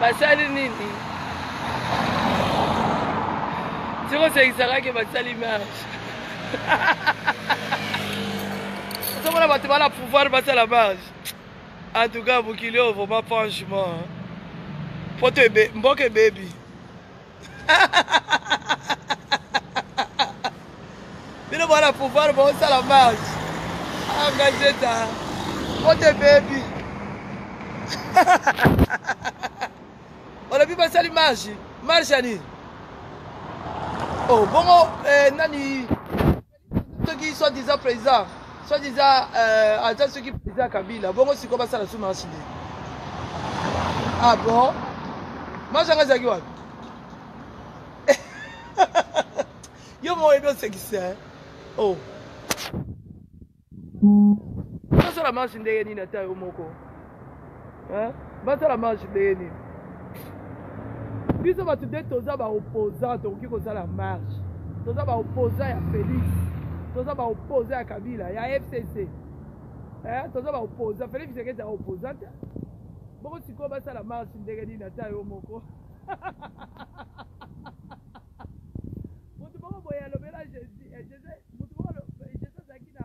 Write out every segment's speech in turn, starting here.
basali nini tikosekisaka ke basali marche ozomona bato bana pouvoir basala marche en tout cas mokili oyo vraiment franchement poto mboka ebebi bino bana pouvoir bosala marche angajeta ote bebi olobi basali marche marche ya nini oh, bongo eh, nani soki soit disant président soit disant euh, aza soki président ya kabila bongo sikoyo basala su marche nde ah bon marche yango ezalaki wapi yo moko oyebi osekisa o osala marche ndenge nini ata yo moko hein? basala marche ndenge nini biso bato nde toza baopposant tokoki kosala marche toza baopposant ya félix toza baopposant ya kabila ya fcc eh, toza baopposant félix tshisekedi ya opposant te bongo sikoyo basala marche ndenge nini ata yo moko moto moko boye alobela jésus eh, jésus moto moko eh, jésus azalaki na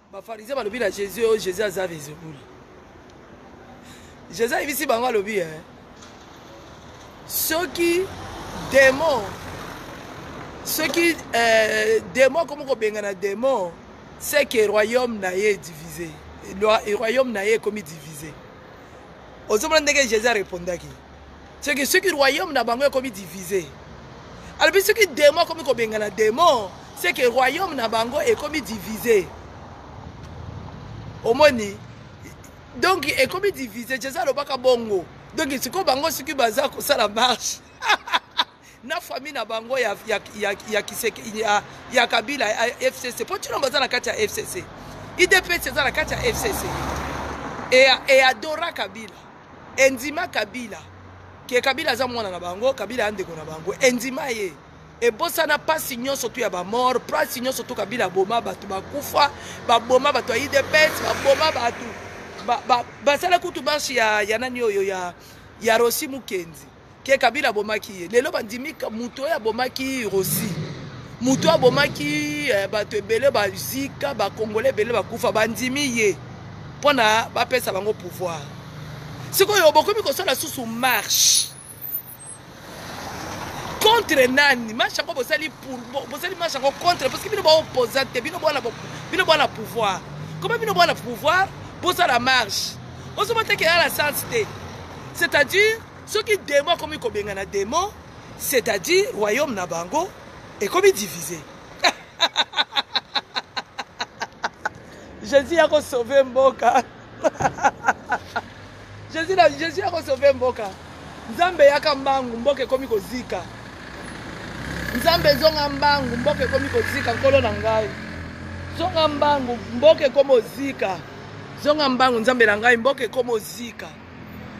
bafarizien balobi na jésus oyo jésus aza vezebulu jésus ayebisi bango alobi e soki demon soki eh, demon akomi kobengana demon c'est que royaume na ye divise royaume na ye ekomi divise ozomona ndenge jésus arepondaki seke soki royaume na bango ekomi divise alobi soki demo akomi kobengana demo seke royaume na bango ekomi divise omoni donc ekomi divise jesus alobaka bongo donc sikoyo bango soki baza kosala marche na famille na bango ya, ya, ya, ya, kiseke, ya, ya kabila ya fcc mpo ntina baza na kati ya fcc idps eza na kati ya fcc eadora kabila endima kabila ke kabila aza mwana na bango kabila ya ndeko na bango endima ye ebosana mpasi nyonso tu ya bamort mpasi nyonso tu kabila aboma bato bakufa baboma bato ya idps baboma bato basala kutu marche ya, ya nani oyo ya, ya rosi mukenzi ke kabila abomaki ye lelo bandimi moto oyo abomaki rosi moto oyo abomaki eh, bato ebele bazika bakongole ebele bakufa bandimi ye mpo na bapesa bango pouvoir sikoyo bokomi kosala susu marche contre nani marche yango bosali bosali marche yango contre parce que bino baopposa te bino bwana pouvoir koma bino bwana pouvoir bosala marche ozomata ke yala sens te c'est-à-dire Soki demon akomi kobengana demon, c'est à dire royaume na bango ekomi divise. Jésus yako sauver mboka. Jésus na Jésus yako sauver mboka. Nzambe yaka mbangu mboka ekomi kozika. Nzambe zonga mbangu mboka ekomi kozika nkolo na ngai. Zonga mbangu mboka ekomi ozika. Zonga mbangu Nzambe na ngai mboka ekomi ozika.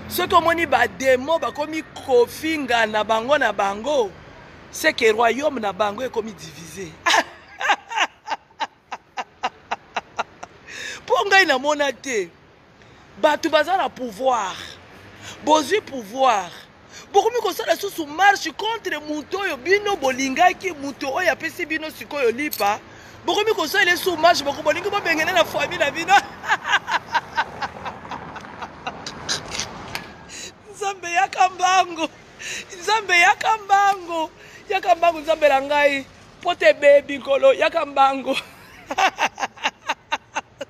soki omoni bademo bakomi kofingana bango na bango seke royaume na bango ekomi divise mpo ngai namona te bato baza na pouvoir bozwi pouvoir bokomi kosala susu marche contre moto oyo bino bolingaki moto oyo apesi bino sikoyo lipa bokomi kosala esu marche boko bolingi bobengene na famille na bino nzambe yaka mbango nzambe yaka mbango yaka mbango nzambe na ngai mpo te bebi nkolo yaka mbango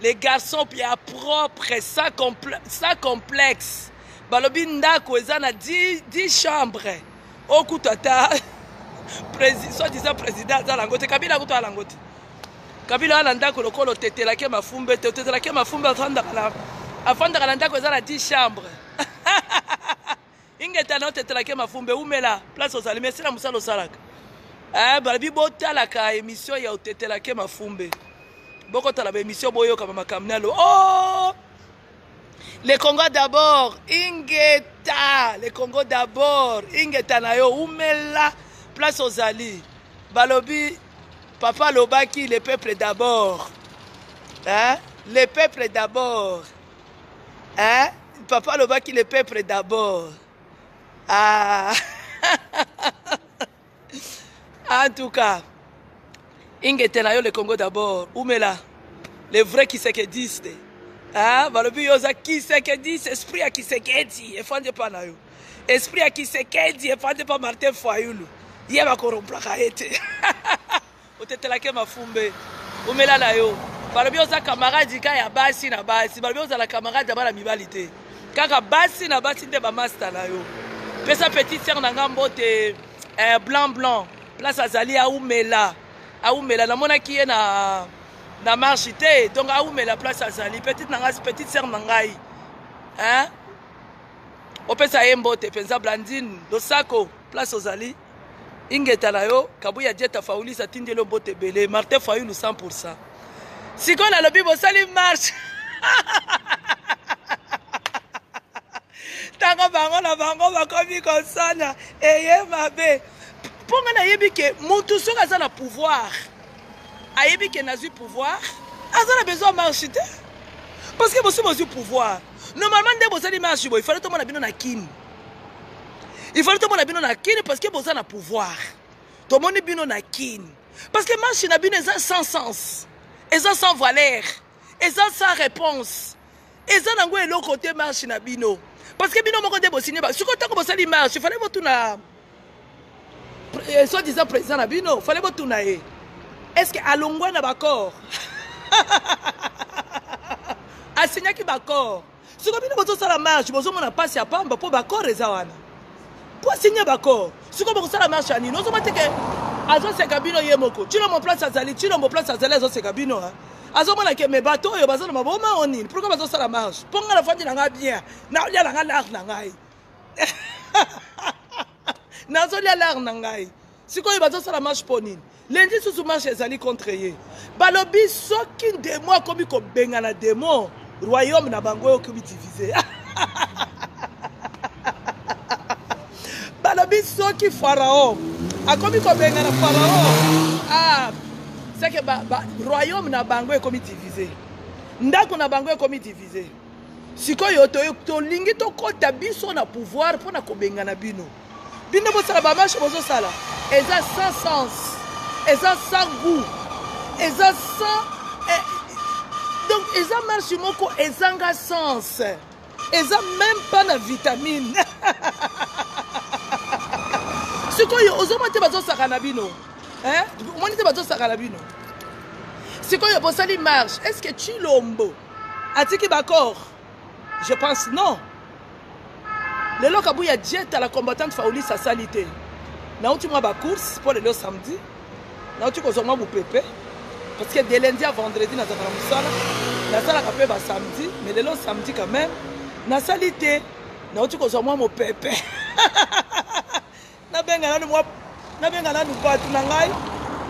Les garçons pia propre sans, comple sans complexe balobi ndako eza na 10, 10 chambre okutu ata soit disant président aza nango te kabila akutu aza nango te kabila aza na ndako lokola otetelaki mafumbe te otetelaki mafumbe afandaka na ndako eza na 10 chambre ingeta na otetelake mafumbe umela place ozali mesi na mosala osalaka eh, balobi botalaka emission ya otetelake mafumbe bokotala baemission boyoka bamakambo na lo oh! le congo d'abord ingeta le congo d'abord ingeta na yo umela place ozali balobi papa alobaki le peuple d'abord eh? le peuple d'abord hein? papa alobaki le peuple d'abord ah. en tout cas ingete na yo le congo d'abord umela le vrai kisekediste hein? balobi yo oza kisekediste esprit ya kisekedi efandi epa na yo esprit ya kisekedi efandi epa martin fayulu ye bakoromplaka ye te otetela ke mafumbe omela na yo balobi oza camarade ka ya basi na basi balobi ozala camarade ya bana mibali te kaka basi na basi nde bamasta na yo pesa petite sere na ngai mbote eh, blanc blanc place azali aumela aumela namonaki ye na na marche te donc aumela place azali petite na ngai petite sere na ngai hein? opesa ye mbote mpenza blandine losako place ozali ingeta na yo kabuya jet afaulis atindi elo mbote ebele martin fayulu 100 pourcent sikoyo nalobi bosali marche ntango bango na bango bakomi kosana eye mabe mpo ngai nayebi ke motu soki aza na pouvoir ayebi ke nazwi pouvoir aza na besoin marche te parce que bosi bozwi pouvoir normalement nde bosali marche boye fale tomona bino na kini il fallait tomona bino na kin parce que boza na pouvoir tomoni bino na kin parce que marche na bino eza sans sens eza sans valeur eza sans réponse eza nango eloko te marche na bino parce que bino moko nde bosigne sikoyo ntango bosali marche fallait botuna eh, soit disant président na bino fallait botuna ye est ce que alongwa na baccord asignaki baccord siko bino bozosala marche bozomona mpasi ya pamba mpo bakor eza wana mpo asigne bakor siko bokosala marche ya nini ozomati ke azoseka bino ye moko cilombo place azali cilombo place azali azoseka bino ha azomona ke me bato oyo baza na maboma o nini pourkoi bazosala marche mpo ngai nafandi na ngai bien naolia na ngai lare na ngai nazolia lare na ngai sikoyo bazosala marche mpo nini lendi susu marche ezali contre ye balobi soki demo akomi kobengana demo royaume na bango okomi divise balobi soki farao akomi kobengana farao ah, seke ba, ba, royaume na bango ekomi divise ndako na bango ekomi divise sikoyo tolingi tokɔta biso na pouvoir mpo na kobengana bino bino bosala bamashe bozosala eza sans sens eza sans goût eza sans eh, donc eza marche moko ezanga sens eza même pas na vitamine sikoyo ozomona te bazosaka na bino omoni te bazosaka na bino sikoyo bosali marche est ce que chilombo atiki bacor je pense non lelo kabuya dieta la combattante faulis asali te nauti mwa bacourse mpo lelo samedi nauti kozwa mwa mopepe parce que de lundi a vendredi nazalaka na mosala nasalaka mpe basamedi mais lelo samedi quand même nasali te nauti kozwa mwa mopepe nabenga nanu mwa nabenga nanu bato na ngai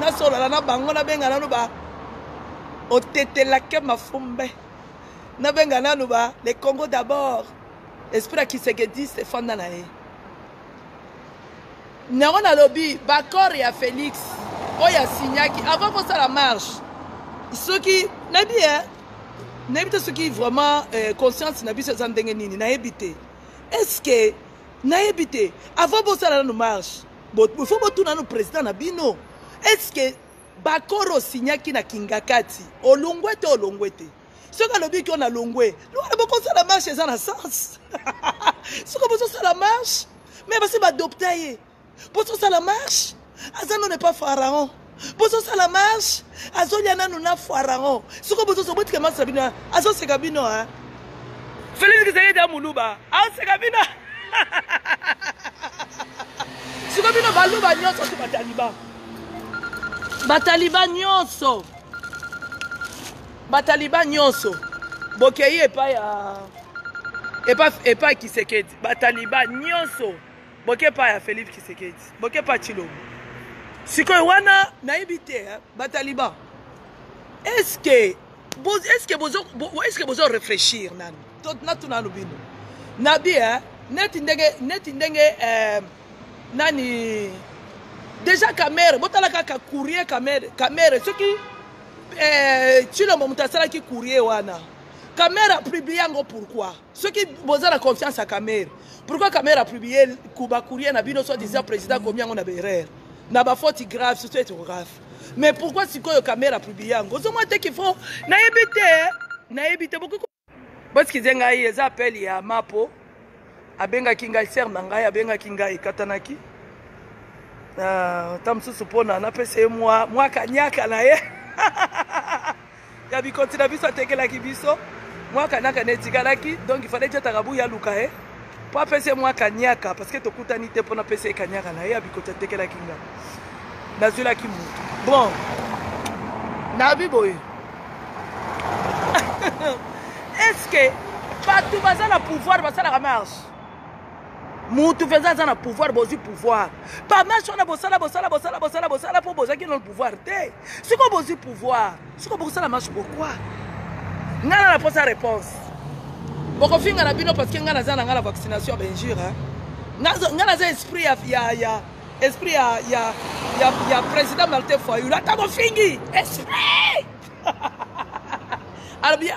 nasolola na bango nabenga nanu ba otetelake mafumbe nabenga nanu ba le congo d'abord esprit ya kisekedis efanda na ye nango nalobi bacor ya félix oyo asignaki avant kosala marche soki nayebi e eh, nayebi te soki vraiment eh, conscience na biso eza ndenge nini nayebi te est ce que nayebi te avant bosala nanu marche faut botuna nanu president na bino est ce que bakoro osignaki na kingakati olongwe te olongwe te soki alobi kio na longwe lwana bokosala marche eza na sens soki bozosala marche me basi badopta ye bozosala marche aza none pa pharaon bozosala marche azolia nanu na pharaon soko bozozo botika marche na bino azoseka bino a felix kisekedi ya muluba aseka bino siko bino baluba nyonso to bataliban bataliban nyonso bataliban nyonso bokei epai ya epai kisekedi bataliban nyonso boke pa ya Felix Tshisekedi boke pa Tshilombo sikoyo wana nayebi te eh, bataliban est-ce que est-ce que bozo est-ce que bozo réfléchir nanu to natuna no bino nabi eh, neti ndenge neti ndenge eh, nani déjà kamere botala kaka courrier kamere kamere soki eh, tshilombo moto asalaki courrier wana kamere apublie yango pourquoi soki boza na confiance ya kamere pourquoi kamere apiblie kuba courrier na bino soit disant président akomi yango na baerreur na bafaute grave surtout etographe mais pourquoi sikoyo kamere apiblie yango ozomwa te kifo nayebi te nayebi te bokoki bosikize ngai eza appel ya mapo abengaki ngai sere na ngai abengaki ngai ekatanaki ah, ta mosusu mpona napesa ye mwa kaniaka na ye ya bikoti na biso atekelaki biso mwa kanaka na etikalaki donc ifale ti atakabu ya luka ye mpo apesi ye mwa kaniaka parceke tokutani te mpo napesi ye kaniaka na ye ya bikoti atekelaki nga nazwilaki motu bon nabi boye estce bato baza na pouvoir basalaka marche mutu mpenza aza na pouvoir bozwi pouvoir pamashi wana bosala bosala bosala bosala bosala mpo bozwaki nano pouvoir te sikoyo bozwi pouvoir sikoyo bokosala mashi pourkoi ngai na naposa réponse bokofinga na bino parce que ngai naza na ngai na vaccination benjure ngai naza esprit ya, ya, ya esprit ya, ya, ya, ya président martin fayulu ata bofingi esprit alors bien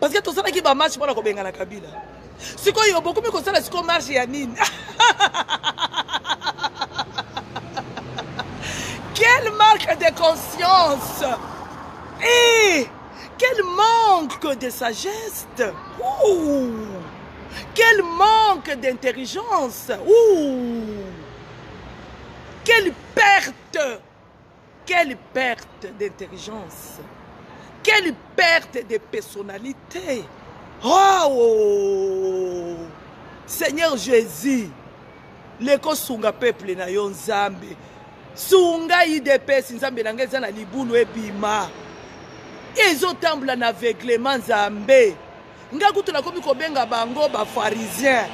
parce que tosalaki bamarche mpona kobengana kabila sikoyo bokomi kosala sikoyo marche ya nini quel marque de conscience et eh, quel manque de sagesse Ouh. quel manque d'intelligence Ouh. quelle perte Quelle perte d'intelligence. Quelle perte de personnalité. Oh, oh, oh. Seigneur Jésus, leko sunga peuple na yo Nzambe. Sunga IDPS Nzambe na ngai eza na libulu ebima. Ezotambola na aveuglement Nzambe. Nga kutu nakomi kobenga bango ba pharisien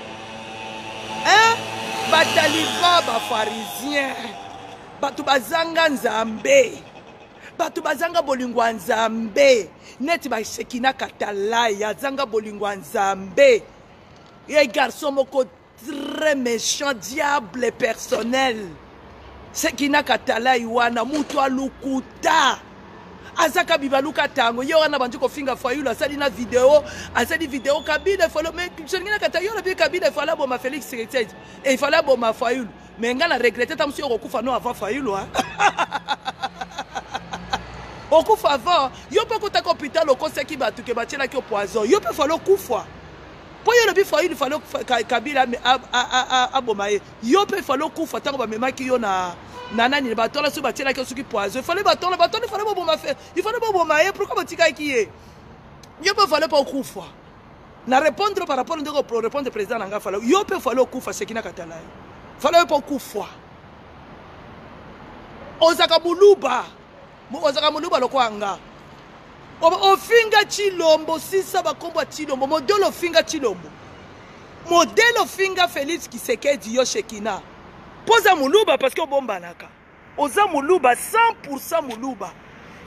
hein? ba taliban ba pharisien bato bazanga nzambe bato bazanga bolingo ya nzambe neti bashekina katalai azanga bolingo ya nzambe ye garçon moko très méchant diable personnel sekina katalai wana mutu alukuta azaka bibaluka tango ye wana bandi kofinga fayulu asali na video asali video kabila efalo me solingi na kata yo olobi kabila efalo aboma félix seketsedi efalo aboma fayulu me ngai na regrete ta mosu yo okokufa no avant fayulu a okufa avant yo mpe okotaka hôpital okosaki bato ke batyelaki yo poison yo mpe efalo okufa mpo yo olobi fayulu falo kabila aboma ye yo mpe falo kufa ntango bamemaki yo na na nani na batola soki batielaki yo soki poison ifale batola batola ifale boboma fe ifale boboma ye pourkui botikaki ye yo mpe fale mpe okufa na répondre par rapport ndenge orépondre président na ngai fale yo mpe fale okufa sekina katala ye fale yo mpe okufa ozaka buluba ozaka muluba lokola nga ofinga chilombo sisa bakombo ya chilombo modele ofinga chilombo modele ofinga félix kisekedi yo shekina mpo oza moluba parceke obombanaka oza moluba 100 moluba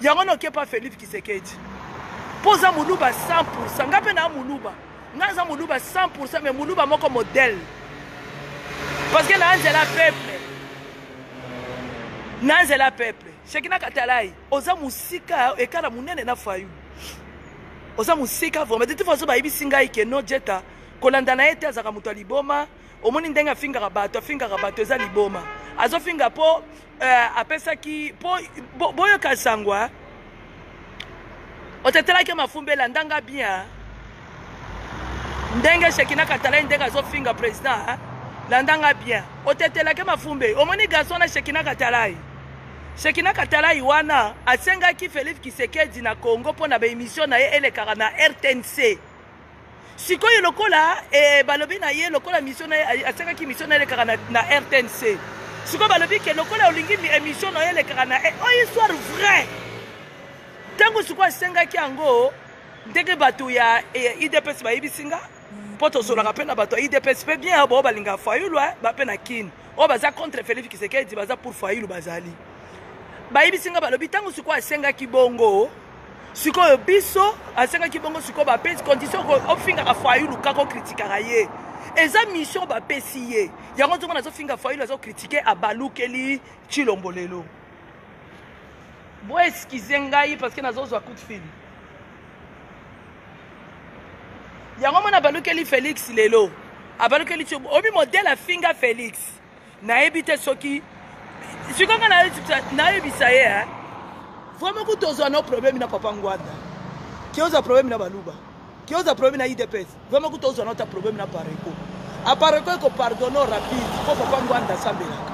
yango na okepa félix kisekedi mpo oza moluba 100 ngai mpe naa moluba ngai aza moluba 100 me moluba moko modele parceke naa nzela peuple naa nzela peuple Shekina Katalayi, oza musika ekala munene na Fayulu. Oza musika vraiment. De toute façon bayebisi ngai ke no Jeta kolanda na ye te azaka moto ya liboma. Omoni ndenge afingaka bato, afingaka bato eza liboma. Azofinga po euh, apesaki po bo, boyoka sangwa. Otetelaki mafumbela ndanga bien. ndenge shekina katalai ndenge azofinga président hein? landa nga bien otetelake mafumbe omoni garçon na shekina katalai shekina katalai wana asengaki felipe kisekedi na congo mpo na baemission na ye elekaka na rtnc sikoyo lokola e, balobi na ye lokola mission na ye asengaki mission na ye elekaka na, na rtnc sikoyo balobi ke lokola olingi emission na ye elekaka na eh, oyo histoire vrai ntango sikoyo asengaki yango ndenge bato ya idps e bayebisi nga mpo tozolaka mpe na bato ya idps mpe bien bao balingaka fayulu eh, bape na kine oyo baza contre felipe kisekedi baza pour fayulu bazali bayebisi nga balobi ntango sikoyo asengaki bongo sikoyo biso asengaki bongo sikoyo bapesi condition ofingaka fayulu kaka okritikaka ye eza mission bapesi ye yango nzongo nazofinga fayulu azokritike abalukeli chilombo lelo bo excuse ngai parce que nazozwa coup de fil yango mwana abalukeli félix lelo abalukeli ti obi modele afinga félix nayebi te soki sikoyo nga nayebisa ye eh? vraiment kutu ozwa no problème na papa ngwanda kioza problème na baluba kioza problème na idps Vraiment kuta ozana ta problème na Pareco. A Pareco eko pardonner rapide mpo papa Ngwanda asambelaka.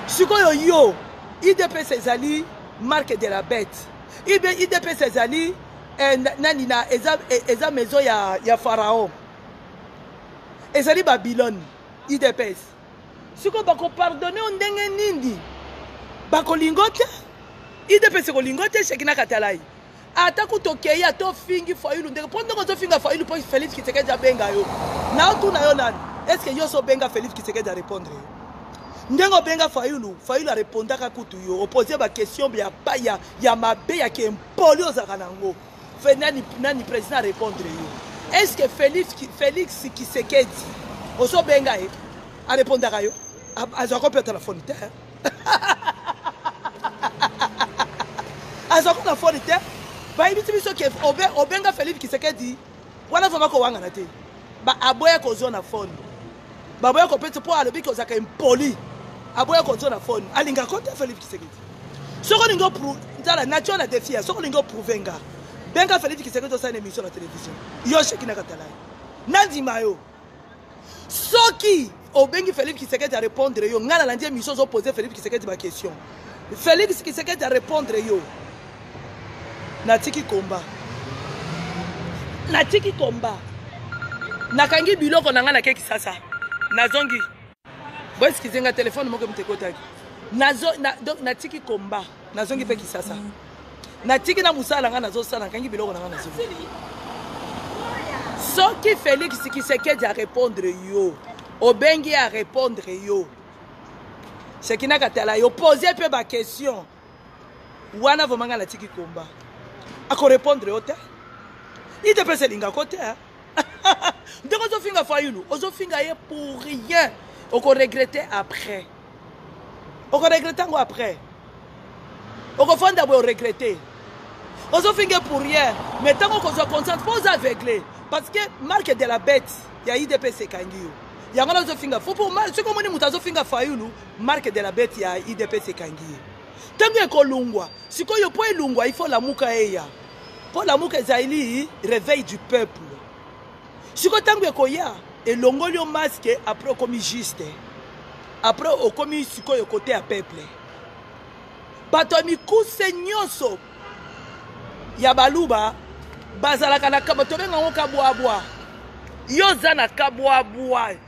Sikoyo yo IDPS ezali marque de la bête. Ibe IDPS ezali eh, nani na eza, eh, eza maison ya, ya Pharaon. Ezali Babylone IDPS. Sikoyo bako pardonner o ndenge nini? Bakolingo te? IDPS ekolingo te Shekina Katalayi. ata kutu okei ata ofingi fayulu ndenge mpo ndenge ozofinga fayulu mpo félix kisekedi abenga yo na otuna yo nani estce yo so obenga félix kisekedi arépondre yo ndenge obenga fayulu fayulu arépondaka kutu yo opose baquestion ya, ya, ya mabe ya kempoli ozalaka na yango nani, nani président arépondre yo estce félix, félix kisekedi ozobenga ye arépondaka yo azwaka mpe telefone te azwa kuka fone te bayebisi biso ke obenga felipe kisekedi wana vraimen kowangana te aboya kozwa na fone baboya kopesa mpo alobi ke ozalaka impoli aboya kozwa na fone alingaka ko te felipe kisekedi soki olingi tala nature na defi ya soki olingi oprouve nga benga felipe kisekedi osala na émission na télévision yo sheki na katalaye nandima yo soki obengi Felix Kisekedi a répondre yo ngai nalandi émission ozo poser Felix Kisekedi ba question Felix Kisekedi a répondre yo natiki komba natiki komba nakangi biloko na ngai na kekisasa nazongi boeskize nga telefone moko moto ekotaki natiki komba nazongi mpe kisasa natiki na mosala na ngai nazosala nakangi biloko na ngai nazongi soki félix kisekedi arépondre yo obengi ye arépondre yo sekinaka tala yo pose mpe baquestion wana vrema ngai natiki komba akorepondre yo te idps elingako te ndenge ozofinga fayulu ozofinga ye pour rien okoregrete après okoregrete yango après okofanda boye oregrete ozofinge pour rien mais ntango okozwa conscience mpo oza aveugle parce que marque de la bête ya idps ekangi yo yango na ozofinga fo pour soki omoni moto azofinga fayulu Marque de la bete ya IDPS ekangi ye. Tango ekolungwa, sikoyo po elungwa il faut lamuka eya. Po lamuka ezali reveil du peuple. Sikoyo tango ekoya, elongoli yo masque après okomi juste. Après okomi sikoyo kote ya peuple. Bato ya mikuse nyonso ya baluba bazalaka na kaba tobenga ngo kabwabwa. Yo oza na kabwabwa.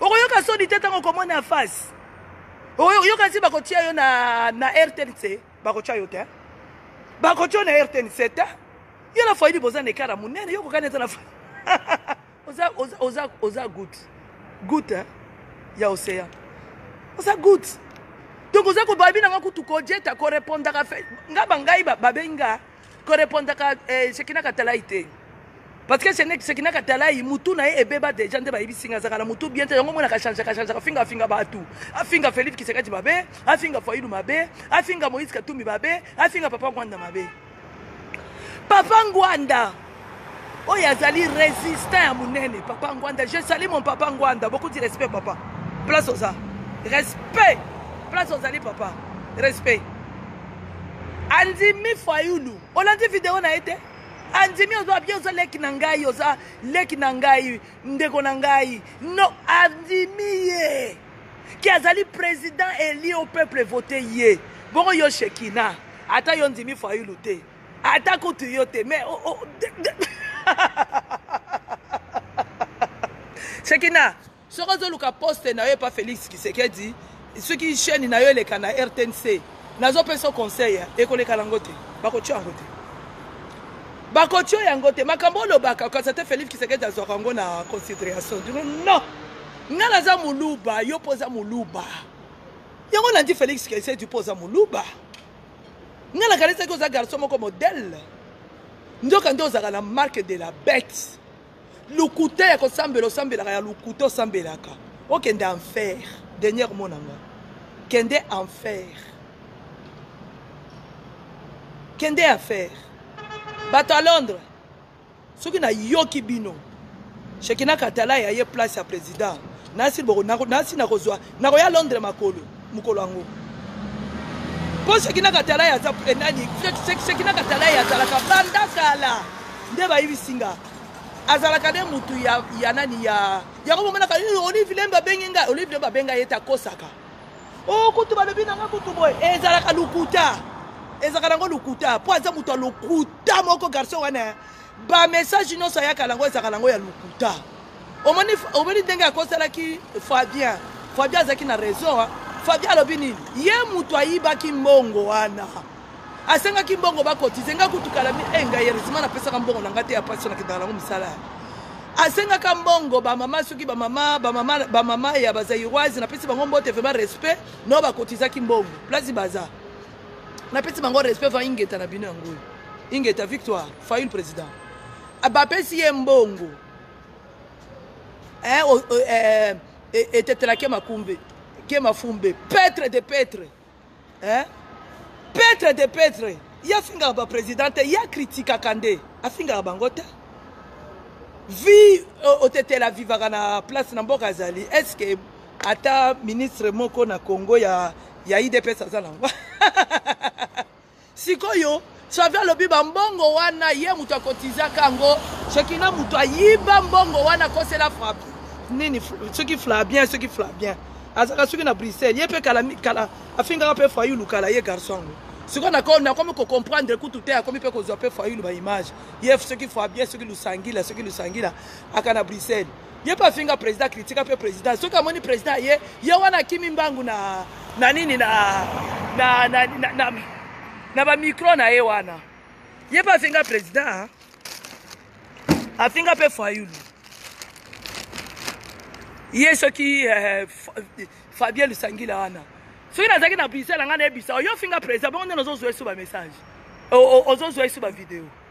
okoyoka soni te ntango okomona ya face oyoka nsi bakotia yo na, na rtnc bakotia yo te bakotia yo na rtnc te yo na faidi boza na ekara monene yo kokani eza na oza, oza, oza, oza gut gut eh? ya océan oza gut donc oza kobabi nanga kutu kojeta korepondaka fe nga bangai babengi nga ko repondaka eh, Shekina Katalai te parce que Shekina Katalai mutu na ye ebeba deja nde bayebisi nga azaka na mutu bien te yango mona kachanjaka chanjaka afinga afinga batu afinga Felix Kisekati mabe afinga Fayulu mabe afinga Moïse Katumbi mabe afinga Papa Ngwanda mabe Papa Ngwanda oyo azali resistant ya monene papa ngwanda je sali mon papa ngwanda beaucoup du respect papa place oza respect place ozali papa respect andimi fayulu olandi video na ye te andimi oza bien oza leki na ngai oza leki na ngai ndeko na ngai no andimi ye ki azali président eli au peuple vote ye bongo yo shekina ata yo ndimi fayulu te ata kutu yo te mais oh, oh, de, de. sekina soki ozoluka poste na yo epa félix kisekedi soki chaîne na yo eleka na rtnc nazopesa conseil ekoleka nango te bakotyo yango te bakotyo yango te makambo olobaka kasi ata félix kisekedi azwaka yango na considération dino non nga naza moluba yo mpo oza moluba yango nandi félix kisekedi mpo oza moluba nga nakanisaki oza garçon moko modèle nzoka nde ozalaka na marque de la bête lokuta ya kosambela osambelaka ya lokuta osambelaka okende enfer dernier mot na nga kende enfer kende enfer bato ya londres soki na yoki bino shekina katalai aye place ya president nasi boko nasi nakozwa nakoya londres makolo mokolo yango mpo shekina katalai aza eh, nani shekina katalai azalaka banda kala nde bayibisi nga azalaka nde motu ya, ya nani ya yango bomonaka eh, olive lembe abengi nga olive lembe abenga ye te akosaka o oh, kutu balobi na ngai kutu boye ezalaka lokuta ezalaka nango lokuta mpo aza moto ya lokuta moko garçon wana bamessage nyonso ayaka nango ezalaka nango ya lokuta omoni ndenge akosalaki fabien fabien azalaki na raison fabien alobi nini ye moto ayibaki mbongo wana asengaki mbongo bakotize nga kutu kala mi eh, ngai heureusement napesaka mbongo na nga te ya pasi nakendaka nango misala asengaka mbongo bamama soki bamama bamama bamama ya bazairoise napesi bango mbote vraiment respect no bakotizaki mbongo place baza napesi bango respect va ingeta na bino yango oyo ingeta victoire fail président ah, bapesi ye mbongo eh, oh, oh, eh, eh, etetelake makumbe ke mafumbe petre de petre eh? petre de petre ye afingaka bapresident te ye akritikaka nde afingaka bango te vi euh, otetela vivaka na place na mboka azali est ce que ata ministre moko na congo ya, ya idps aza nango Sikoyo Xavi alobi ba mbongo wana ye moto akotizaka yango. Shekina moto ayiba mbongo wana akosela frappe nini soki Flavien soki Flavien azalaka soki na Bruxelles ye mpe kala kala afingaka mpe Fayulu kala ye garçon yango sikoyo nako nakomi ko comprendre kutu te akomi mpe kozwa mpe Fayulu ba image ye soki Fabien soki Lusangila soki Lusangila aka na Bruxelles ye mpe afinga président kritika mpe président soki amoni président aye ye wana akimi mbangu na na nini na na, na, na, na, na bamikro na ye wana ye mpe afinga président afinga mpe fayulu ye soki eh, fabien lusangila wana soki nazalaki na bise na ngai nayebisa yo ofinga président bongo nde nozozwa esu bamessage ozozwa esu bavideo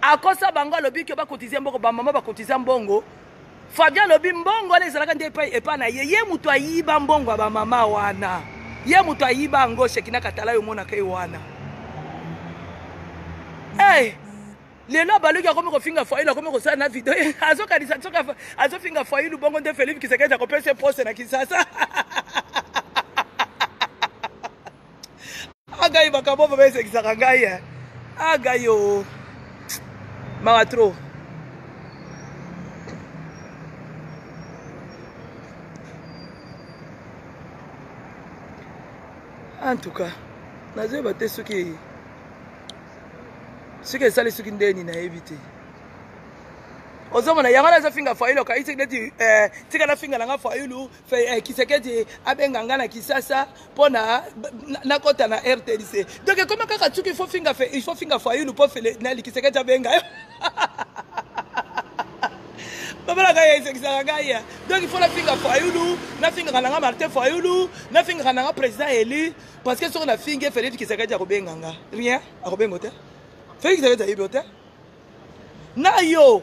akosa bango alobi ke bakotize mbongo bamama bakotiza mbongo fabien alobi mbongo wana ezalaka nde epai epa na ye ye moto ayiba mbongo ya bamama wana ye moto ayiba yango shekina katala yo omonaka ye wana hey, eh, lelo abaluki akomi kofinga failu akomi kosala na video azokanisa soki azofinga failu bongo nde felipe kisekedi akopesa ye poste na kisasa agai ah, makambo vraimen esekisaka ngai eh. agai ah, o mawa trop en tout cas nazoyeba te soki soki esali soki ndeni nayebi te ozomona yango nazofinga fayulu okaisi neti eh, tika nafinga nanga fayulu Eh, kisekedi abenga nga na kisasa mpo na nakɔta na rtdc donc ekoma kaka tuki ifo finga ifo finga fayulu mpo nali kisekedi abenga yo babalaka ye esekisaka ngai ya donc ifo nafinga fayulu nafingaka nanga martin fayulu nafingaka nanga président élu parce que soki nafingi ye felix kisekedi akobenga nga rien akobenga te felix kisekedi ayebi yo te na yo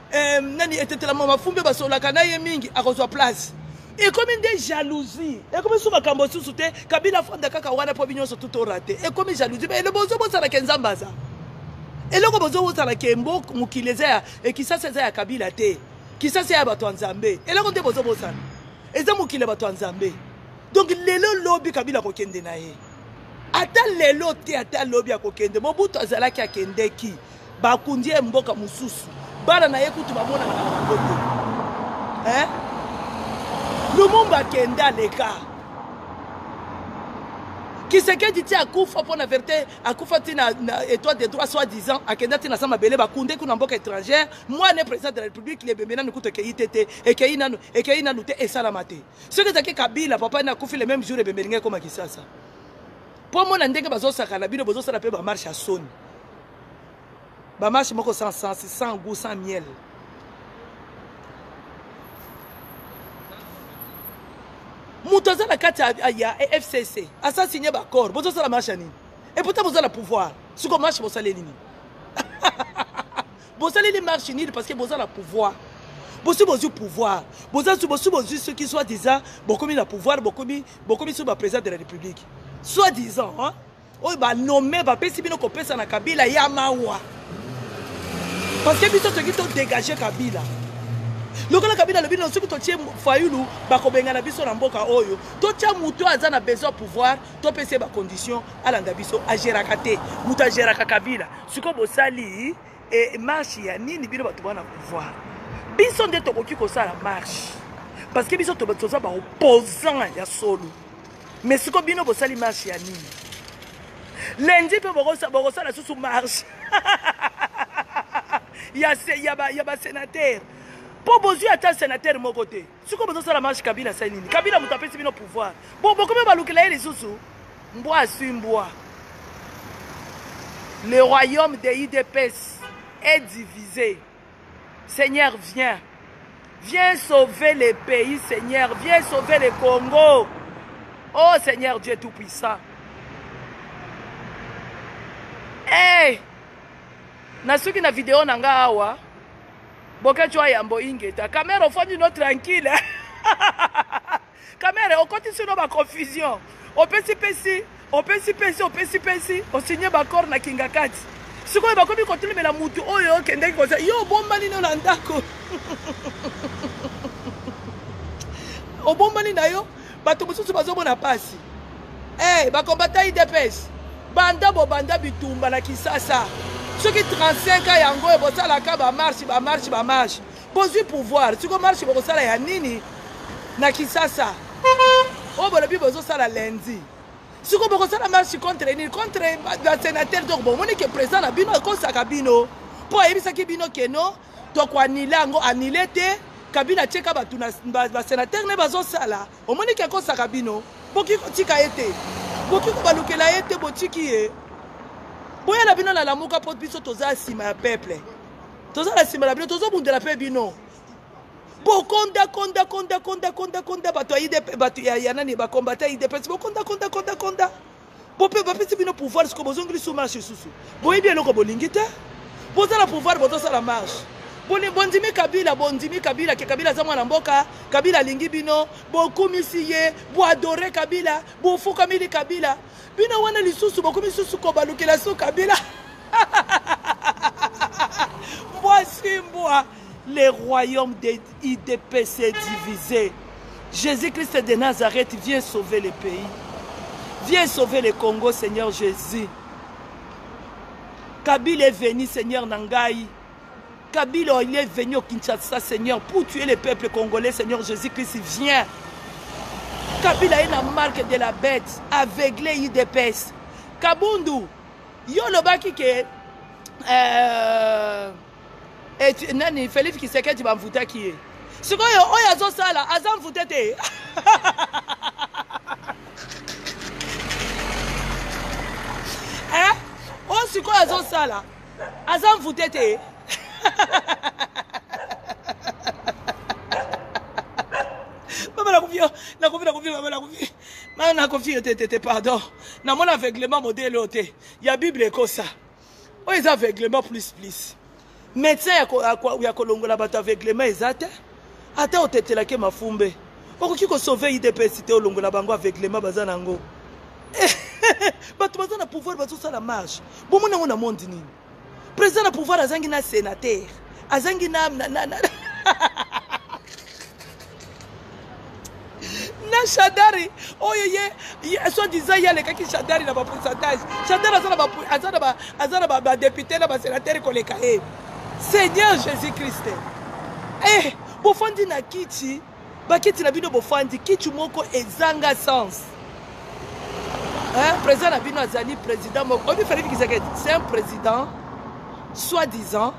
eh, nani etetela mama fumbe basololaka na ye mingi akozwa place ekomi nde jalousie ekomi su makambo susu te kabila afanda kaka wana mpo binyonso tu torate ekomi jalousie me elo bozo bosala ke nzambe aza eloko bozo bosala ke mbo mokili eza ya ekisasa eza ya kabila te kisasa ya bato ya nzambe eloko nde bozo bosala eza mokili ya bato ya nzambe donc lelo lobi kabila akokende na ye ata lelo te ata lobi akokende mobutu azalaki akendeki bakundi ye mboka mosusu bana na ye kutu bamonaka na bangoto eh? lumumba akende aleka kisekedi ti akufa mpo na verité akufa ti na, na étoile de droit soit disant akenda ti na sa mabele bakunde kuna mboka étrangère mwana président de la république lebembe nanu kutu ekei te te ekei nanu ekei nanu te esalama te soki ezalaki kabila papa ne akufi le même jour ebembe elingi ekoma kisasa mpo mona ndenge bazosakana bino bozosala mpe bamarche ya soni ba match moko sans sens sans goût sans miel moto aza na kati ya fcc asa signe baaccord bozosala match ya nini epota boza na pouvoir siko match bosaleli nini bosaleli marche nini parce que boza na pouvoir bosi bozwi pouvoir boza bosi bozwi soki soit disant bokomi na pouvoir bokomi bokomi soki baprésident de la république soit disant hein? oyo ba nomme bapesi bino kopesa na kabila ya mawa parce que biso toki todégage kabila lokola kabila alobi no soki totie fayulu bakobengana biso na mboka oyo totya moto aza na besoin pouvoir topesi ye bacondition alanda biso ageraka te moto ageraka kabila sikoyo bosali e, marche ya nini bino bato bana pouvoir biso nde tokoki kosala marche parce que biso toza baopposant ya solo mais siko bino bosali marche ya nini lundi mpe bokosala susu marche ya basenatere mpo bozwi ata senatere moko te sikoyo bozosala marche kabila asali nini kabila moto apesi bino pouvoir bo bokomi balukela ye lisusu mbwa aswi mbwa le royaume de idps est divisé Seigneur viens. Viens sauver les pays, Seigneur. Viens sauver le Congo. Oh Seigneur Dieu Tout-Puissant. Hey! nasuki na video na nga awa boketsho ayambo ingeta kamera ofandi no tranquille Kamere okotisi no ba confusion opesi pesi opesi pesi opesi pesi osinye baccord na kingakati sikoyo bakomi kotelemela mutu oyo okendeki koza yo obombani no na ndako obombani na yo bato mosusu bazomona mpasi hey, eh, bakombata idps banda bobanda bitumba na kisasa soki 35 ans yango oyo bosalaka bamarshe bamarshe bamarshe Bozwi pouvoir siko marche bokosala ya nini na Kisasa oyo bolobi bozosala lundi siko bokosala marche contre nini contre basenateur donc bomoni ke président na bino akosaka bino mpo ayebisaki bino keno tokoanile yango anile te kabila atyeka bato na basenatere ne bazosala omoni ke akosaka bino boki kotika ye te boki kobalukela ye te botiki ye boya na bino na lamuka mpo biso toza nsima ya peuple toza na nsima na bino tozobundela mpe bino bokonda konda konda konda konda konda bato ya idp bato ya nani bakombata idps bokonda konda konda konda bope bapesi bino pouvoir siko bozongeli su marche lisusu boyebi eloko bolingi te boza na pouvoir bozosala marche bondimi kabila bondimi kabila ke kabila aza mwana mboka kabila alingi bino bokumisi ye boadore kabila bofukamili kabila Bino wana lisusu bokomi susu kobalukela so kabila mbwa si mbwa le royaume de idps est divisé jésus christ de nazareth vient sauver le pays vient sauver le congo seigneur jésus kabila est venu seigneur na ngai Kabila il est venu au Kinshasa Seigneur pour tuer les peuples congolais Seigneur Jésus-Christ viens Kabila est la marque de la bête aveuglé IDPS Kabundu yo lobaki ke euh, et, nani Félix Kisekedi bamvutaki ye sikoyo oyo azosala aza mvute te eh? oyo sikoyo azosala aza envoute te mama nakofi yo nakofi nakofi mama nakofi mama nakofi yo te te te pardon namona aveuglement modele oyo te ya bible ekosa oyo eza aveuglement plus plus médecin ya kolongola bato aveuglement eza te Ata otetela ke mafumbe, okoki ko sauver UDPS te olongola bango aveuglement baza nango. Bato baza na pouvoir bazo sala marche. Bomona yango na monde nini? Président na pouvoir azangi na sénateur, azangi na na na, na. na shadari oyo ye soit disant ye alekaki shadari na bapourcentage shadari aza na badepute na basenatere koleka ye seigneur jésus christ eh, bofandi na kiti bakiti na bino bofandi kiti moko ezanga sens eh, président na bino azali président moko oyebi felipe kisekedi c'est un président soit disant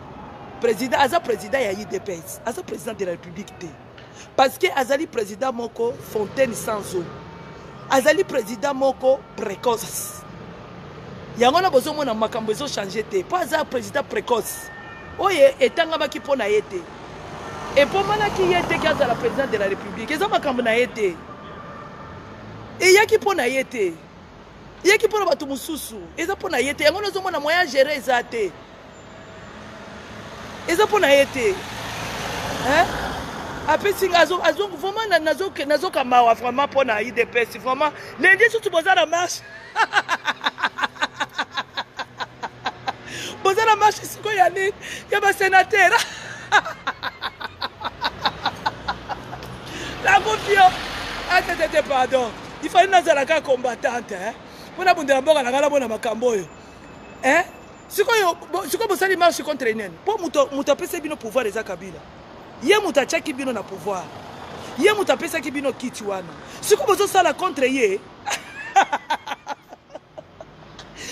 président aza président ya idps aza président de la république te parce que azali président moko fontaine sans eau azali président moko précoce yango wana bozomona makambo ezochange te mpo aza président précoce oyo etangamaki mpo na ye te epomanaki ye te ki azala président de la république eza makambo na ye te eyaki mpo na ye te eyaki mpo na bato mosusu eza mpo na ye te yango nazomona moyen agere eza te eza mpo na ye te apesi nga vraiment nazoka mawa vraiment mpo na idps vraiment lendi susu boza na marche boza na marche sikoyo ya nini ya basenatere nakofio atetete ah, pardon ifali nazalaka combattante mpo nabundela mboka na ngai namona makambo oyo eh? sikoyo sikoyo bosali marche contre nani mpo moto apesaki bino pouvoir eza kabila ye moto atiaki bino na pouvoir ye moto apesaki bino kiti wana sikoyo bozosala contre ye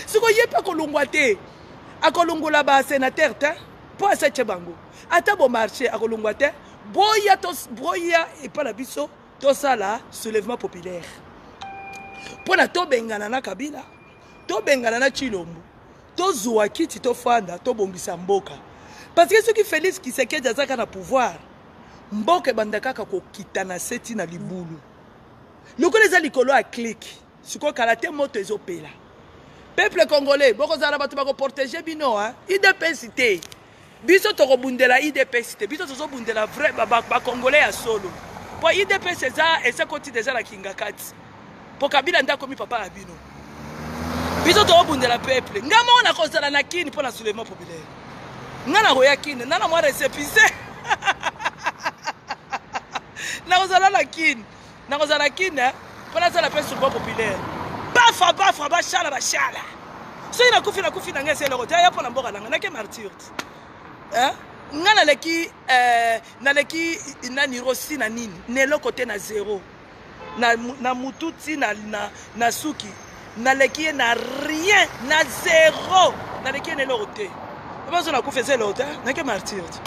sikoyo ye mpe akolongwa te akolongola basenatere te mpo asatie bango ata bomarche akolongwa te boya boya epai na biso tosala soulèvement populaire mpo na tobengana na kabila tobengana na chilombo tozua kiti tofanda tobongisa mboka parce que soki félix kisekedi azaka na pouvoir mboka ebanda kaka kokita na se ti na libulu lokola eza likolo ya clike sikoyo kala te moto ezopela peuple congolais bokozala na bato bakoprotege bino idps te Biso toko bundela idps te biso tozo bundela vrai ba, ba, ba congolais ya solo po idps eza ese koti deja na kingakati po kabila nde akomi papa na bino biso toko bundela peuple nga moko nakozala na kini po na soulèvement populaire nga nakoya kini nana mwa recepise nakozala na kini nakozala na kine mpo nasala mpe souverain populaire bafa bafa bashala bashala soki nakufi nakufi na ngai esi eloko te aya mpo na mboka na ngai nake martyr te ngai naleki eh, naleki nani rosi na nini na eloko te na zero na, na mutu ti na, na, na suki naleki ye na rien na zero naleki ye na eloko te bazo nakufa eza eloko te nake martyr te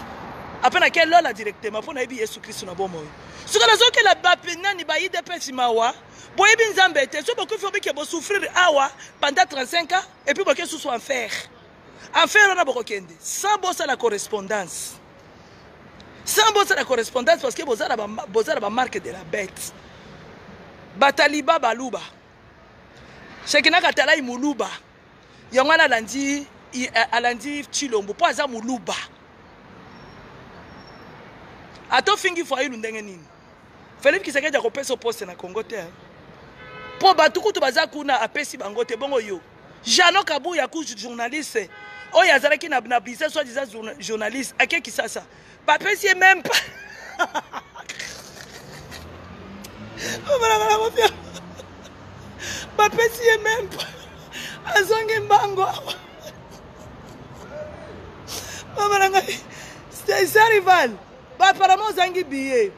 ape nake lola directement mpo nayebi yesu kristu na bomoi soki nazokela bape nani ba idps mawa boyebi nzambe te so bokufi obike bosouffrir awa pendant 35 ans epuis boke susu enfer enfer wana bokokende sans bosala correspondance sans bosala correspondance parce que boza na bamarque de la bête bataliba baluba shekinaka talai muluba yango wana alandi alandi chilombo mpo aza moluba ata ofingi fayulu ndenge nini felip kisekedi akopesa poste na congo te mpo bato kutu baza kuna apesi bango te bongo yo jano kabuya ku journaliste oyo azalaki na biza soi disant journaliste ake kisasa bapesi ye meme pas bapesi ye meme pas azongi mbango awa mama na ngai stesa rival apparemment ozangi billet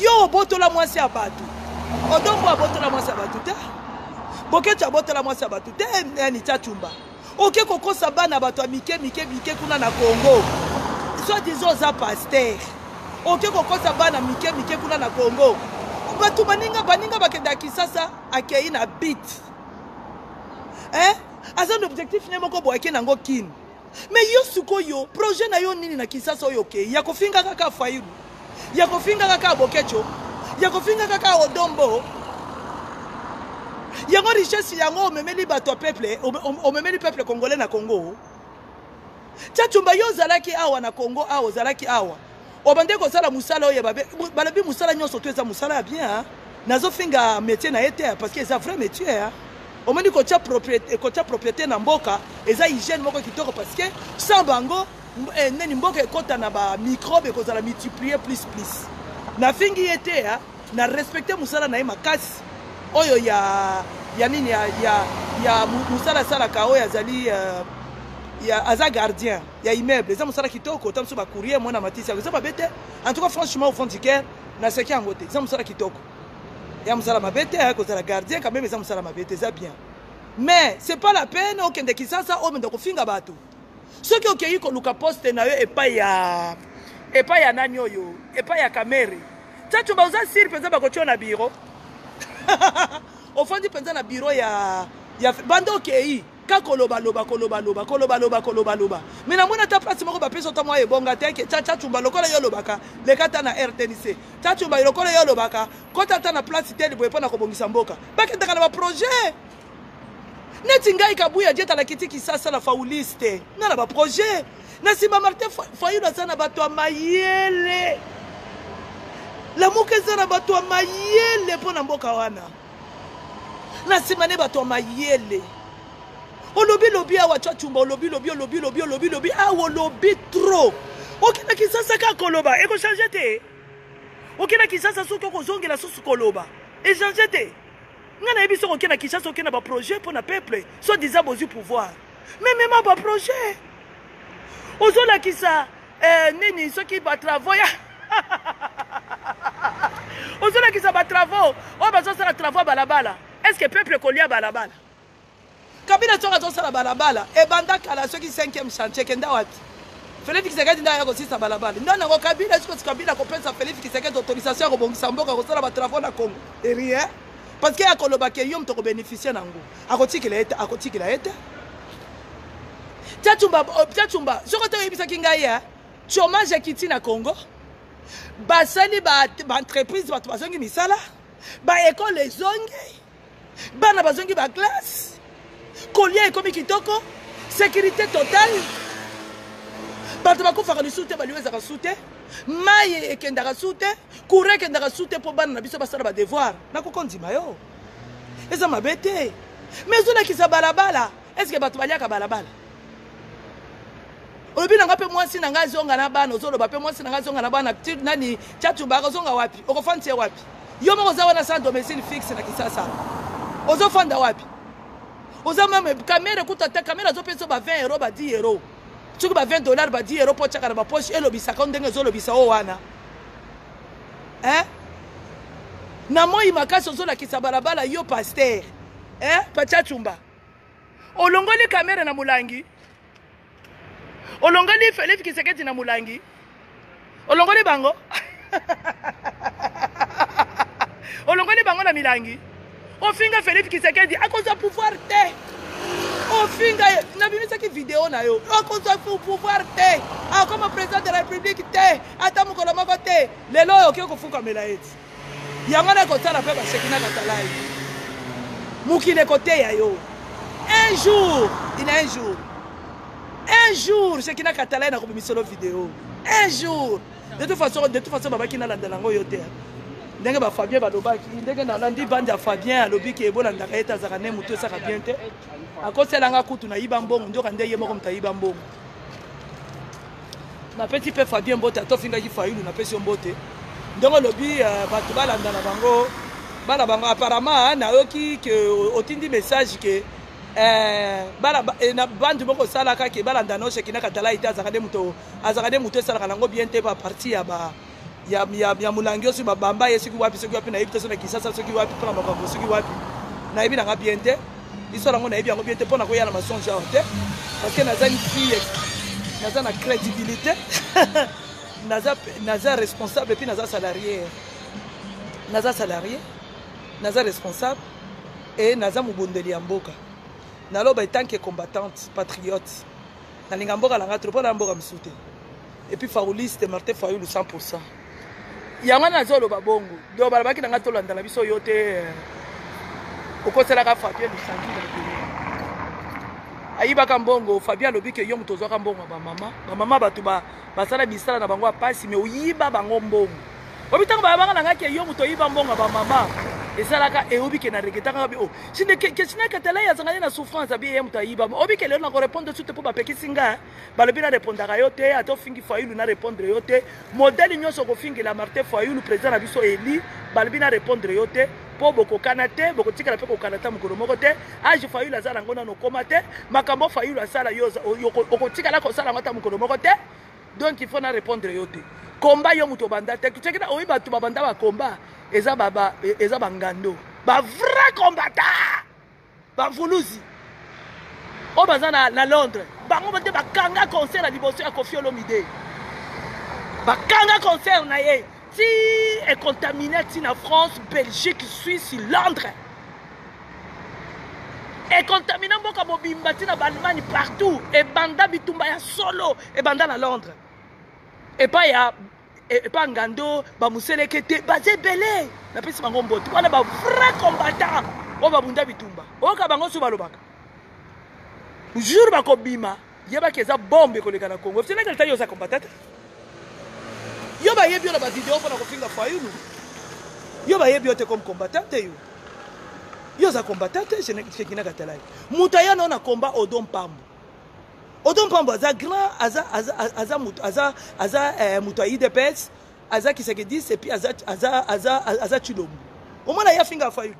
yo obotola mwasi ya bato odombo abotola mwasi ya bato te boketsu abotola mwasi ya bato te nani cacumba oke kokosa bana bato ya mike mike mike kuna na congo soit disant oza paster oke kokosa bana mike mike kuna na congo bato baninga baninga bakenda kisasa akei na bit eh? aza na objectif ne moko boyake nango kine Mais yo sikoyo projet na yo nini na Kinshasa oyo ke ya kofinga kaka Fayulu ya kofinga kaka Bokecho ya kofinga kaka Odombo yango richesse yango omemeli bato ya peuple omemeli peuple congolais na Congo Tchatchumba yo ozalaki awa na Congo awa ozalaki awa obandaki kosala mosala oyo ya babe balobi mosala nyonso to eza mosala ya bien hein. nazofinga métier na ye te hein, parce que eza vrai métier hein. omoni kotya propriété na mboka eza hygiène moko kitoko parce que sans bango eh, nini mboka ekota na bamicrobe ekozala multiplier plus plus nafingi ye te hein. na respecte mosala na ye makasi oyo ya ya nini ya, ya, ya mosala asalaka oyo azali uh, ya, aza gardien ya immeuble eza mosala kitoko ota mosusu bacourrier mwana matisi yango eza mabe te en tout cas franchement au fond du cœur naseki yango te eza mosala kitoko ya mosala mabe te ayaki kozala gardien quand même eza mosala mabe te eza bien mais c'est pas la peine okende kisasa omenda kofinga bato soki okei koluka poste na yo epai ya epai ya nani oyo epai ya kamere caco baoza sire mpenza bakotyo na biro ofandi mpenza na biro ya, ya banda okei ka koloba loba koloba loba koloba loba koloba loba me namoni ata place moko bapesa ota mwa ebonga te ke chacha chumba lokola yo olobaka leka ata na rtnc cha chumba lokola yo olobaka kota ata na place te liboye mpo na kobongisa mboka bakendaka na baprojet neti ngai kabuya je talakiti kisasa na fauliste nga na baprojet na nsima martin fayulu aza na bato ya mayele lamuka eza na bato ya mayele mpo na mboka wana na nsima nde bato ya mayele olobi lobi awa cwacumba olobi lobi olobi lobi olobi lobi awa olobi trop okenda kisasa kaka koloba ekochange te okenda kisasa soki okozongela susu koloba echange te ngai nayebi soki okenda kisasa okenda baprojet mpo na peuple soit disant bozwi pouvoir me mema baprojet ozolakisa eh, nini soki batravo ya ozolakisa batravo oyo bazosala travo ya balabala est ce que peuple ekolia balabala kabila soki azosala balabala ebanda kala soki 5e chantier kenda wapi felix kisekedi nde aya kosisa balabala nde nango kabila esikosi kabila kopesa felix kisekedi autorisation ya kobongisa mboka kosala batravo na congo erie parce que ya koloba ke yo moto kobénéficie na yango akotikela ye te akotikela ye te tiatumba oh, tiatumba soki te oyebisaki ngai ya chomage akiti na congo basali baentreprise ba bato bazongi misala baekole ezongi bana bazongi baklasse kolia ekomi kitoko sécurité totale bato bakufaka lisusu te baliwa ezaka su te mai ekendaka su te courant ekendaka su te mpo bana na biso basala badevoir nakoki ondima yo eza mabe te mais ezolakisa balabala eske bato baliaka balabala olobi na ngai mpe mwasi na ngai azonga na bana ozoloba mpe mwasi na ngai azonga na bana nani chatubaka ozonga wapi okofandisa ye wapi yo moko oza wana sans domicile fixe na kisasa ozofanda wapi oza meme kamera ekuta te kamera azopesa ba 20 euro ba 10 euro soki ba 20 dollar ba 10 euro mpo otyaka na bapoche elobisaka ndenge ezolobisa o wana eh? na moi makasi ozolakisa balabala yo paster eh? pachachumba olongoli kamere na molangi olongoli felif kiseketi na molangi olongoli bango olongoli bango na milangi ofinga Philippe Kisekedi akozwa pouvoir te ofinga ye nabimisaki video na yo akozwa pouvoir te akoma président de la république te ata mokolo moko te lelo oyo okoki kofukamela ye ti yango na ekotala mpe basheki na katalai mokili ekoteya yo un jour ina un jour un jour sheki na katalai na kobimisolo video un jour de toute façon de toute façon babaki nalandela yango yo te ndenge bafabien balobaki ndenge nalandi bandi ya fabien alobi ke bolandaka ye te azalaka ne motu esaka bien te akosela nga kutu nayiba mbongo ndoka nde ye moko moto ayiba mbongo napesi mpe fabien mbote ata ofingaki fayulu napesi yo mbote ndenge olobi euh, bato balanda na bango bana bango apparemment nayoki ke otindi message ke eh, bana eh, na bandi moko osalaka ke balanda nosheki na katala ete azalaka nde moto azalaka nde moto esalaka nango bien te ba parti ya ba ya, ya, ya molangi osi babamba ye soki wapi soki wapi nayebi te soki na kisasa soki wapi mpo na makambo soki wapi nayebi nanga bien te histoire yango nayebi yango bien te mpo na koya na masonge awa te parce que naza une fille naza na crédibilité naza, naza responsable epuis naza salarié naza salarié naza responsable e naza mobondeli ya mboka naloba etanke combattante patriote Nalinga mboka na nga trop pona mboka mosusu te. Et puis Fauliste Martin Fayulu 100%. Yango wana nazoloba bongo. Donc balobaki na nga tolanda na biso yo te. Euh, okoselaka Fabien Lusangi na Beni. ayibaka mbongo fabien alobi ke yo moto ozwaka mbongo ya bamama bamama bato basala misala na bango ya mpasi me oyiba bango mbongo obi ntango bayabaka na ngai ke yo moto oyiba mbongo ya bamama ezalaka eyobi ke na regetaka abi o sinde kesina katala ye azangani na souffrance abi ye moto ayiba obi ke lelo nakorepondre su te mpo bapekisi ngai balobi narepondaka yo te ata ofingi fayulu narepondre yo te modele nyonso okofingela martin fayulu président na biso eli balobi narepondre yo te mpo bokokana te bokotikala mpe kokana ata mokolo moko te age fayulu aza nango nano okoma te makambo fayulu asala yo okotikala kosala yango ata mokolo moko te donc il faut na répondre yo te combat yo moto obanda te tuceki na oyi bato babanda ba combat eza ba, ba, e, eza bangando ba vrai combattant bavuluzi oyo baza na, na londres bango nde bakanga concert ya liboso ya kofi olomide bakanga concert na ye ti econtamine ti na france belgique suisse londres econtamine mboka mobimba ti na baallemagne partout ebanda bitumba ya solo ebanda na londres epai ya e, epai ngando bamoseleke te baza ebele napesi bango mboto wana bavrai combattant oyo babunda bitumba oyoka bango so balobaka jour bakobima yeba ke eza bombe koleka na congo fsena delta yo oza combatata yo bayebi yo na bavideo mpona kofinga fayulu yo bayebi yo te comme combattant te yo yo oza combattant te shekinaka talai moto aya nao na combat odo mpambo odo mpambo aza grand aza, aza, aza, aza, aza, aza eh, moto ya idps aza kisekedis epuis aza, aza, aza, aza chilombo omona ye afinga fayulu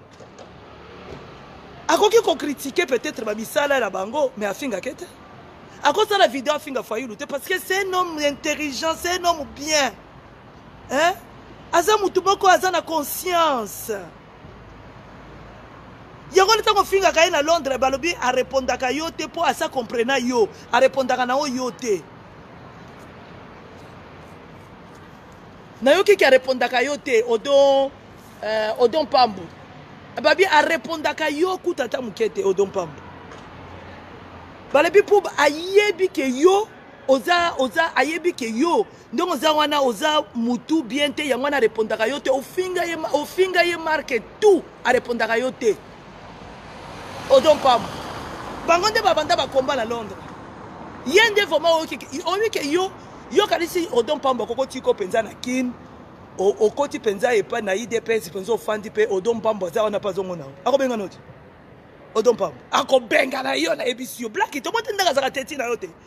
akoki kokritike peut-être bamisala na bango mais afingake te akosala video afinga fayulu te parce que c'est un homme intelligent c'est un homme bien hein? aza motu moko aza na conscience yango nde ntango ofingaka ye na londres balobi arepondaka yo te mpo asa comprena yo arepondaka na oyo yo te nayoki ke arepondaka yo te odon euh, odon mpambu babi arepondaka yo kuta ata moke te odon mpambu balobi mpo ayebi ke yo oza oza ayebi ke yo ndenge oza wana oza mutu bien te yango wana arepondaka yo te ofinga ye, ofinga ye marke tout arepondaka yo te ozo mpamba bango nde babanda bakomba na londres ye nde vraimen oyoki ke yo yo kanisi odon mpamba kokotiko mpenza na kin okoti mpenza epai na idps mpenza ofandi mpe odon mpamba aza wana mpe azongo na yo akobenga noti odon mpamba akobengana yo nayebisi yo blaki tomotindaka azaka teti na yo te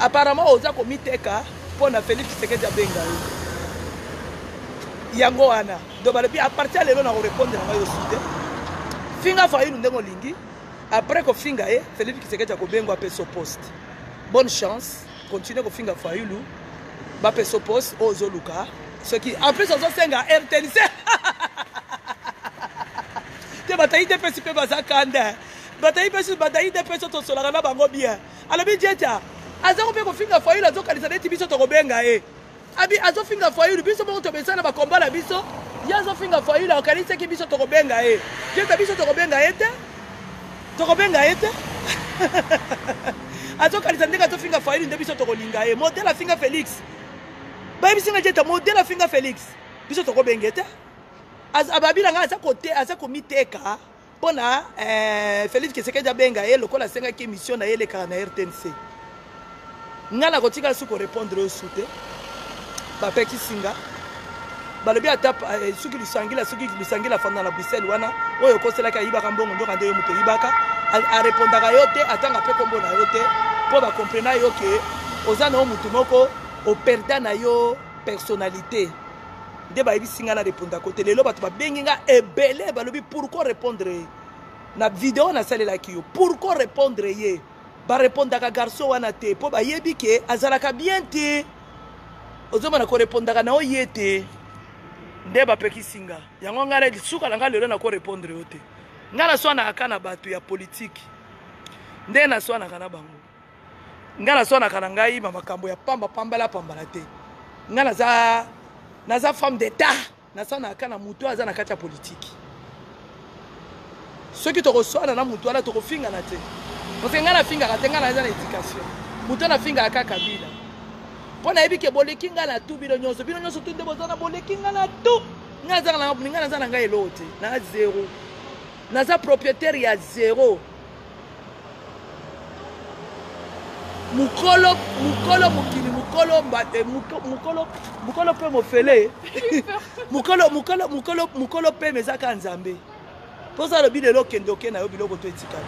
Apparemment oza komiteka mpo na Felix Tshisekedi abenga yo. Yango wana donc balobi a partir ya lelo na korepondre na ngai yo sute finga fayulu ndenge olingi après kofinga ye Felix Tshisekedi akobengwa apeso poste. Bonne chance, continue kofinga fayulu bapesa poste oyo ozoluka soki en plus ozosenga rtnc te batayi te pesi mpe baza kanda batayi mpe batayi te mpe so tosolaka na bango bien alobi jeta aza ko mpe kofinga fayulu azokanisa neti biso tokobenga ye abi azofinga fayulu biso moko tobesa na bakomba na biso ye azofinga fayulu akanisaki biso tokobenga ye jeta biso tokobenga ye te tokobenga ye te azokanisa ndenge azofinga fayulu nde biso tokolinga ye modele afinga félix bayebisi nga jeta modele afinga félix biso tokobenga ye te ababi na ngai aza komiteka mpo na eh, felix kisekedi abenga ye lokola asengaki émission na ye elekaka na rtnc ngai nakotika su korépondre oyo su te bapekisi nga balobi ata eh, soki lisangila soki lisangila afanda na bruxelles wana oyo okoselaki ayibaka mbongo ndoka nde yo moto oyibaka arepondaka yo te atanga mpe nkombo na yo te mpo bakomprena yo ke oza na yo motu moko operda na yo personnalité nde bayebisi ngai na repondako te lelo bato babengi ngai ebele balobi pourquoi répondre ye na video nasalelaki yo pourquoi répondre ye barepondaka garçon wana te mpo bayebi ke azalaka bien te ozomona korepondaka na yo ye te nde bapekisi nga yango ngai na suka na ngai lelo nakorepondre yo te ngai naswanaka kaka na bato ya politiki nde naswanaka na bango ngai nazwanaka na ngai ma makambo ya pamba pambala pambala te ngai naza naza femme d'etat nasanaka na motu aza na kati ya politiki soki tokoswana na motu wana tokofingana te parce ngai nafingaka te ngai naza na éducation motu anafingaka kaka kabila mpo nayebi ke boleki ngai na tu bino nyonso bino nyonso tu nde boza na boleki ngai na tu ngai azaka na ngai naza na ngai eloo te na zero naza propriétaire ya zero mukolo mukolo mokili mukolo mbate eh, mukolo mukolo pe mofele mukolo mukolo mukolo mukolo pe meza ka nzambe poza lobi lelo kende oke na yo biloko to etikali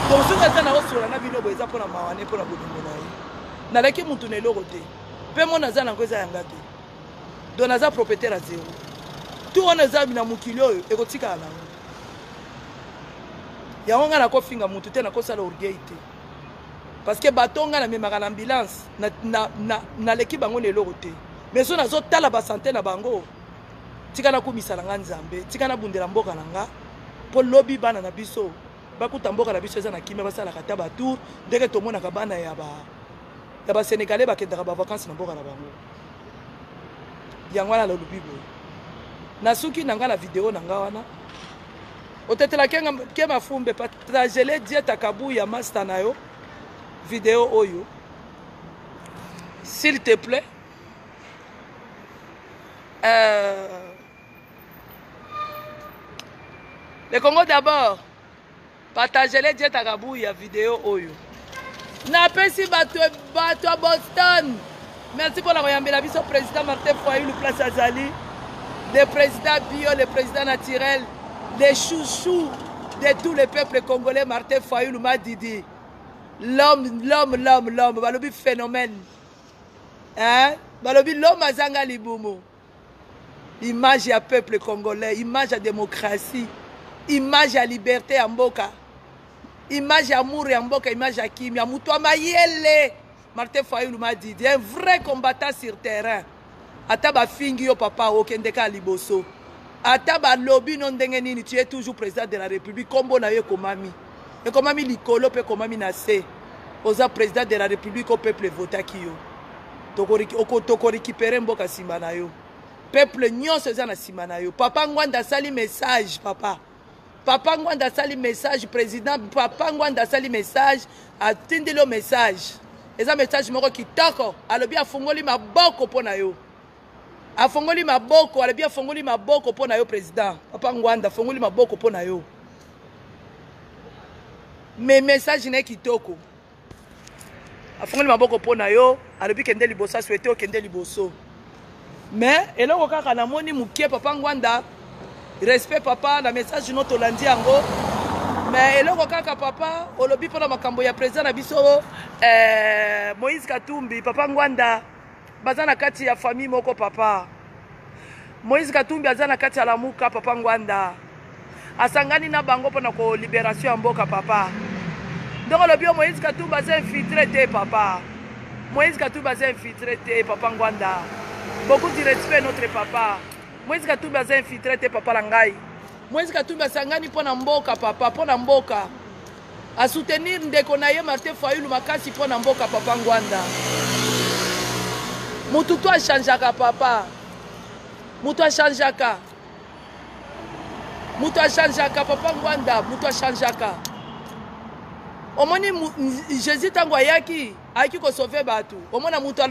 donc soki ata na osola na bino boye eza mpona mawa ne mpona bolingo na ye nalaki mutu na eloko te mpe mona aza nango eza yanga te donc naza propriétaire ya zero tu wana eza na mokili oyo ekotikala nango yango ngai nakofinga motu te nakosala orgueil te parce que bato ngai namemaka na ambulance naleki bango na eloko te mais so nazotala basante na bango tika nakumisa na ngai nzambe tika nabundela mboka na ngai mpo lobi bana na biso bakuta mboka na biso eza na kimia basalaka ata batour ndenge tomonaka bana ya basenegalais bakendaka bavacance na mboka na bango yango wana nalobi boye nasuki na ngai na video na ngai wana otetela ke mafumbe patragele dieta kabu ya masta na yo video oyo s'il te plaît euh, le congo d'abord Partagele Jeta Kabuya video oyo. Napesi bato bato ya Boston. Merci mpo na koyambela biso président Martin Fayulu place azali. Le président bio, le président naturel, le chouchou de tous les peuples congolais Martin Fayulu Madidi. L'homme, l'homme, l'homme, l'homme, balobi phénomène. Hein? Balobi l'homme azanga libumu. image ya peuple congolais image ya démocratie image ya liberté ya mboka image ya amour ya mboka image ya kimia moto ya mayele martin fayulu madidi un vrai combattant sur terrain ata bafingi yo papa okende kaka liboso ata balobi no ndenge nini tu es toujours président de la république nkombo na yo ekomami ekomami likolo mpe ekomami na se oza president de la republique o peuple evotaki yo tokorekipere mboka nsima na yo peuple nyonso eza na nsima na yo papa ngwanda asali message papa papa ngwanda asali message président papa ngwanda asali message atindeli yo message eza message moko kitoko alobi afungoli maboko mpo na yo afongoli maboko alobi afongoli maboko mpo na yo président papa ngwanda afongoli maboko mpo na yo me message na ye kitoko afongoli maboko mpo na yo alobi kende liboso aswete okende liboso me eloko kaka namoni moke papa ngwanda respect papa na message no tolandi yango me eloko kaka papa olobi mpo na makambo ya président na biso eh, moïse katumbi papa ngwanda baza na kati ya famille moko papa moïse katumbi aza na kati ya lamuka papa ngwanda asangani na bango mpo na koliberation ya mboka papa ndoko olobi yo moïse katumbi aza infiltre te papa moïse katumbi aza infiltre te papa ngwanda beaucoup du respect notre papa moïse katumbi aza infiltre te papa na ngai moïse katumbi asangani mpo na mboka papa mpo na mboka A soutenir ndeko na ye Martin Fayulu makasi mpo na mboka papa Ngwanda. Mutu to achangeaka papa. Mutu achangeaka. Mutu achangeaka papa Ngwanda, mutu achangeaka. Omoni Jésus tango ayaki, ayaki ko sauver batu. Omona mutu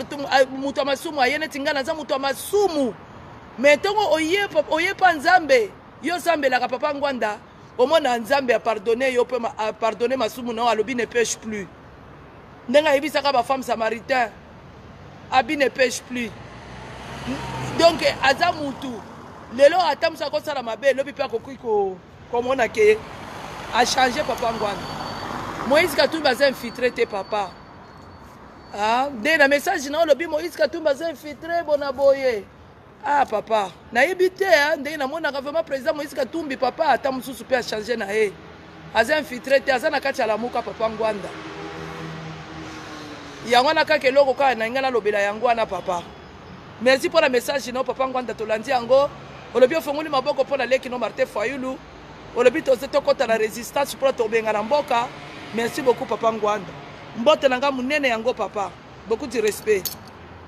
mutu ya masumu aye neti ngai naza mutu ya masumu. Mais ntongo oye oye pa Nzambe, yo osambelaka papa Ngwanda omona nzambe apardone yo mpe apardone masumu na yo alobi ne peche plus ndenge ayebisaka bafemme samaritain abi ne peche plus donc aza mutu lelo ata mosu akosala mabe elobi mpe akoki komona ke achange papa ngwana moïse katumbi aza infiltre te papa ah, nde na message na olobi moïse katumbi aza infiltre bona boye ah papa nayebi te hein, ndenge namonaka vraiment président moïse katumbi papa ata mosusu mpe achange na ye aza infiltre te aza na kati ya lamuka papa ngwanda yango wana kaka eloko kaka na ngai nalobela yango wana papa merci mpo na message no papa ngwanda tolandi yango olobi ofongoli maboko mpo na leki no martin fayulu olobi toze tokɔta na résistance mpo na tobenga na mboka merci beaucoup papa ngwanda mbote na ngai monene yango papa beaucoup du respect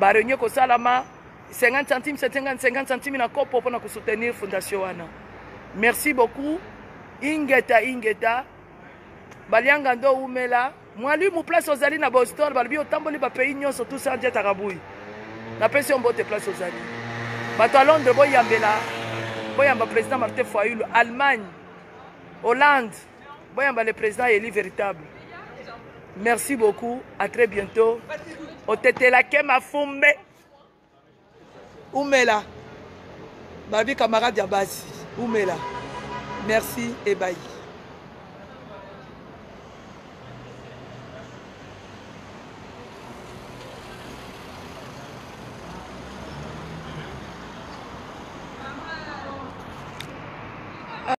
ba réunion ekosalama 50 centimes 50 50 centimes na kopo mpona kosoutenir fondation wana merci beaucoup ingeta ingeta balianga ndo umela mwalimu place ozali na boston balobi otamboli bapays nyonso tout ça dieta kabui napesi yo mbote place ozali bato ya londres boyambela boyamba président martin foyulu allemagne hollande Boyamba le président Eli véritable. Merci beaucoup, à très bientôt. Otetela ke mafumbe. Umela. Babi camarade ya basi. Umela. Merci et bye.